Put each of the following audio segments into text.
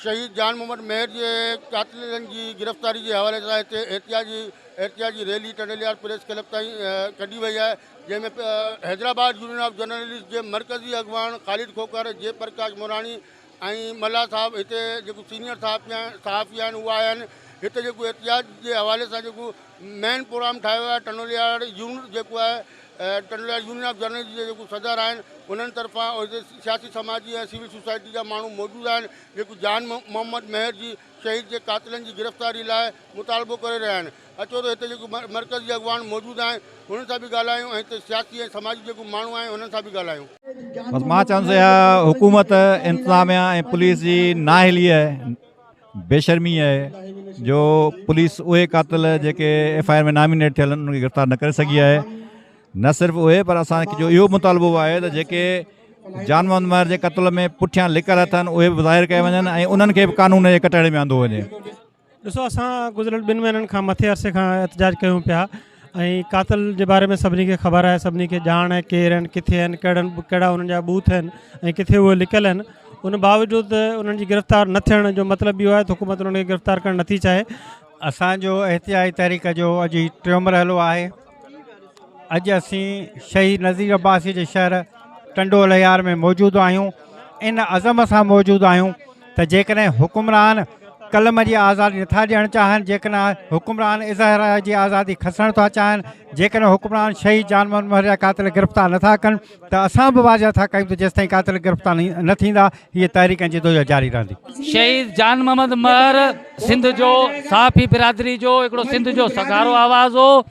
شهيد جان محمد مهر جي قاتلن جي گرفتاري جي حوالي سان هتي احتجاجي احتجاجي ريلي ٽنڊيليار پريس ڪلب تائين ڪڍي وئي آهي جنهن ۾ حيدرآباد يونين آف جرنلسٽ جي مرڪزي اڳواڻ خالد کوکر جي پرڪاش موراڻي ۽ ملاح صاحب هتي جيڪو سينئر صحافي آهن صحافي آهن اهو آيا آهن هتي جيڪو احتجاج جي حوالي سان جيڪو مين پروگرام ٺاهيو ويو آهي ٽنڊوليار يونٽ جيڪو آهي ٽنڊوليار يونين آف جرنلسٽ جي جيڪو صدر آهن انهن طرفان هتي سياسي سماجي ۽ سول سوسائٽي جا ماڻهو موجود آهن جيڪو جان محمد مهر جي شهيد جي قاتلن جي گرفتاري لاء مطالبو ڪري رهيا آهن اچو ته هتي جيڪي مرڪز جي اڳواڻ موجود آهن انهن سان به ڳالهايون ۽ هتي سياسي ۽ سماجي جيڪي ماڻهو آهن انهن سان به ڳالهايون. بس مان چوندس اها حڪومت انتظاميا ۽ پوليس جي نااهلي ۽ بيشرمي آهي جو پوليس اهي قاتل جيڪي ايف آء آر ۾ نامينيٽ ٿيل آهن انهن کي گرفتار نه ڪري سگهي آهي نه صرف اهي پر اسان جو اهو مطالبو به آهي ته جيڪي جان محمد مهر جي قتل ۾ پٺيان لڪل هٿ آهن اهي به ظاهر ڪيا وڃن ۽ انهن کي به قانون جي ڪٽهڙي ۾ آندو وڃي. ڏسو اسان گذريل ٻن مهينن کان مٿي عرصي کان احتجاج ڪيون پيا ۽ قاتل جي باري ۾ سڀني کي خبر آهي سڀني کي ڄاڻ آهي ڪير آهن ڪٿي آهن ڪهڙن ڪهڙا انهن جا بوٿ آهن ۽ ڪٿي اهي لڪل آهن ان باوجود انهن جي گرفتار نه ٿيڻ جو مطلب اهو آهي ته حڪومت انهن کي گرفتار ڪرڻ نٿي چاهي اسان جو احتجاجي تحريڪ جو اڄ هي ٽيون مرحلو آهي اڄ اسين شهيد نذير عباسي جي شهر ٽنڊو الهيار ۾ موجود آهيون ان عزم سان موجود آهيون ته جيڪڏهن حڪمران قلم جي آزادي نٿا ڏيڻ چاهن جيڪڏهن حڪمران اظهار جي آزادي کسڻ ٿا چاهن جيڪڏهن حڪمران شهيد جان محمد مهر جا قاتل گرفتار نٿا ڪن ته اسان به واضح ٿا ڪيون ته جيستائين قاتل گرفتار نه ٿيندا هيء تحريڪ ۽ جدوجهد جاري رهندي. شهيد جان محمد مهر سنڌ جو صحافي برادري جو هڪڙو سنڌ جو سگهارو آواز هو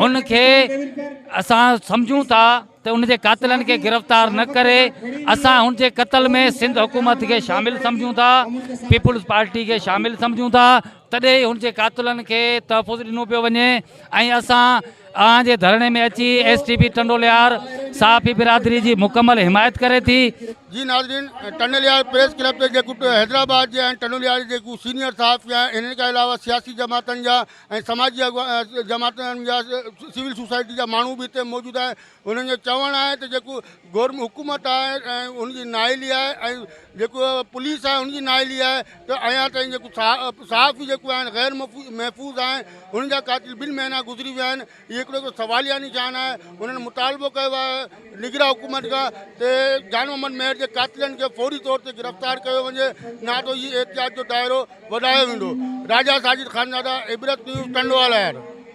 هن کي اسان سمجهون ٿا ته ان جي قاتلن کي گرفتار نه ڪري اسان هن جي قتل ۾ سنڌ حڪومت کي شامل سمجهون ٿا پيپلز پارٽي کي شامل سمجهون ٿا تڏهن ئي هن جي قاتلن کي تحفظ ڏنو پيو وڃي ۽ اسان اوهان جي ڌرڻي ۾ اچي ايس ٽي پي ٽنڊوليار صحافي برادري جي مڪمل حمايت ڪري ٿي. جي ناظرين ٽنڊوليار پريس ڪلب تي جيڪو حيدرآباد جي ۽ ٽنڊوليار جي جيڪو سينيئر صحافي آهن انهن کان علاوه سياسي جماعتن جا ۽ سماجي اڳواڻ جماعتن جا سول سوسائٽي جا ماڻهو به هتي موجود آهن انهن جو چوڻ آهي ته جيڪو گورم حڪومت آهي ان جي نااهلي آهي ۽ جيڪو پوليس آهي ان جي نااهلي آهي ته اڃا تائين جيڪو صحافي جيڪو آهن غير محفوظ آهن انهن جا قاتل ٻن مهينا گذري ويا آهن هي هڪڙو ته سواليا نشان آهي انهن مطالبو ڪيو آهي نگرا حڪومت کان ته جان محمد مهر جي قاتلن کي فوري طور تي گرفتار ڪيو وڃي نه ته هي احتجاج جو دائرو وڌايو ويندو راجا ساجد خانزاده عبرت نيوز ٽنڊوالهيار